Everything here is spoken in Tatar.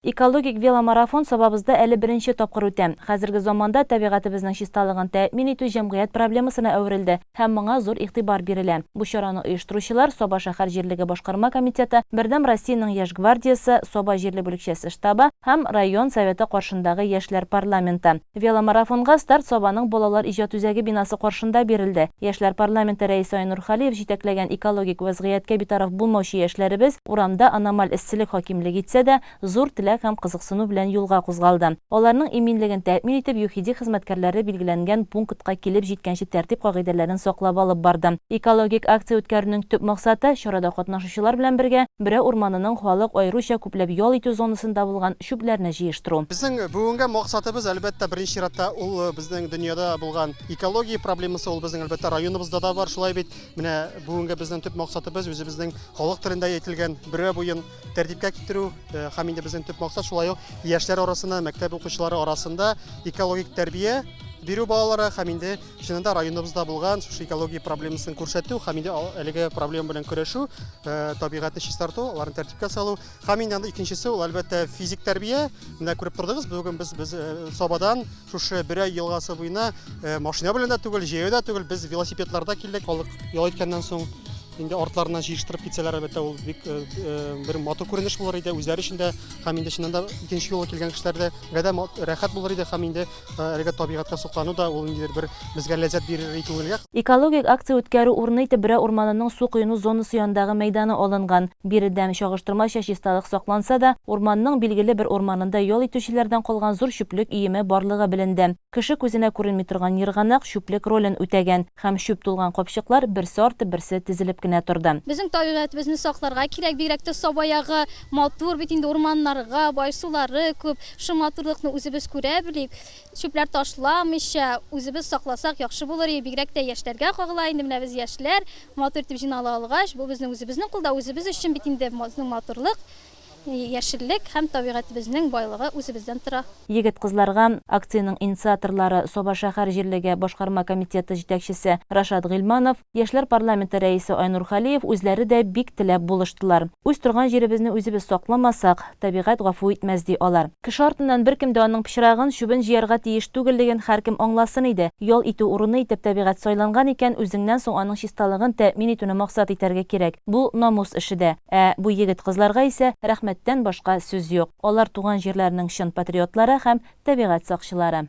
Экологик веломарафон Сабабызда әле беренче тапкыр үтә. Хәзерге заманда табигатебезнең чисталыгын тәэмин итү җәмгыять проблемасына әверелде һәм моңа зур игътибар бирелә. Бу чараны оештыручылар, Саба шәһәр җирлеге башкарма комитеты, Бердәм Россиянең Яшь гвардиясе, Саба җирле бүлекчәсе штабы һәм район Советы каршындагы яшьләр парламенты. Веломарафонга старт Сабаның балалар иҗат үзәге бинасы каршында бирелде. Яшьләр парламенты рәисе Айнур Халиев җитәкләгән Экологик вәзгыятькә битараф булмаучы яшьләребез, Урамда аномаль эсселек хакимлек итсә дә, зур теләк һәм кызыксыну белән юлга кузгалды. Аларның иминлеген тәэмин итеп, ЮХИДИ хезмәткәрләре билгеләнгән пунктка килеп җиткәнче тәртип кагыйдәләрен саклап алып барды. Экологик акция үткәрүнең төп максаты, чарада катнашучылар белән бергә Бөрә урманының халык аеруча күпләп ял итү зонасында булган чүпләрне җыештыру. Безнең бүгенге максатыбыз, әлбәттә, беренче чиратта, ул безнең дөньяда булган экология проблемасы, ул безнең, әлбәттә, районыбызда да бар. Шулай бит, менә бүгенге безнең төп максатыбыз, үзебезнең Халык телендә әйтелгән бөрә буен тәртипкә китерү һәм инде безнең төп максат шулай ук яшьләр арасына, мәктәп укучылары арасында экологик тәрбия бирү балалара һәм инде чынында районыбызда булган шушы экология проблемасын күрсәтү һәм инде әлеге проблема белән көрәшү, табигатьне чистарту, аларны тәртипкә салу һәм инде анда икенчесе ул әлбәттә физик тәрбия. Менә күреп тордыгыз, бүген без без Сабадан шушы Бөрәй елгасы буена машина белән дә түгел, җәяү дә түгел, без велосипедларда килдек, халык ял иткәннән соң Инде артларына җыештырып китсәләр, әлбәттә, ул бик э, э, бер матур күренеш булыр иде үзләре өчен дә, һәм инде чыннан да икенче юлы килгән кешеләрдә дә рәхәт булыр иде һәм инде э, әлеге табигатькә соклану да ул инде бер безгә ләззәт бирер иде күңелгә. Экологик акция үткәрү урыны итеп Брә урманының су коену зонасы янындагы мәйданы алынган. Биредән, чагыштырмача, чисталык сакланса да, урманның билгеле бер урманында ял итүчеләрдән калган зур чүплек өеме барлыгы беленде. Кеше күзенә күренми торган ерганак чүплек ролен үтәгән. Һәм чүп тулган капчыклар берсе арты берсе тезелеп кенә торды. Безнең табигатебезне сакларга кирәк, бигрәк тә Саба ягы матур бит инде, урманнарга бай, сулары күп, шул матурлыкны үзебез күрә белик, чүпләр ташламыйча үзебез сакласак яхшы булыр иде, бигрәк тә яшьләргә кагыла инде, менә без яшьләр матур итеп җыйнала алгач, бу безнең үзебезнең кулда, үзебез өчен бит инде безнең матурлык. Яшеллек һәм табигатебезнең байлыгы үзебездән тора. Егет-кызларга акциянең инициаторлары, Саба шәһәр җирлеге башкарма комитеты җитәкчесе Рашат Гыйльманов, яшьләр парламенты рәисе Айнур Халиев үзләре дә бик теләп булыштылар. Үз торган җиребезне үзебез сакламасак, табигать гафу итмәс, ди алар. Кеше артыннан беркем дә аның пычрагын, чүбен җыярга тиеш түгеллеген һәркем аңласын иде. Ял итү урыны итеп табигать сайланган икән, үзеңнән соң аның чисталыгын тәэмин итүне максат итәргә кирәк. Бу, намус эше дә. Ә бу егет-кызларга исә рәхмәттән башка сүз юк. Алар туган җирләренең чын патриотлары һәм табигать сакчылары.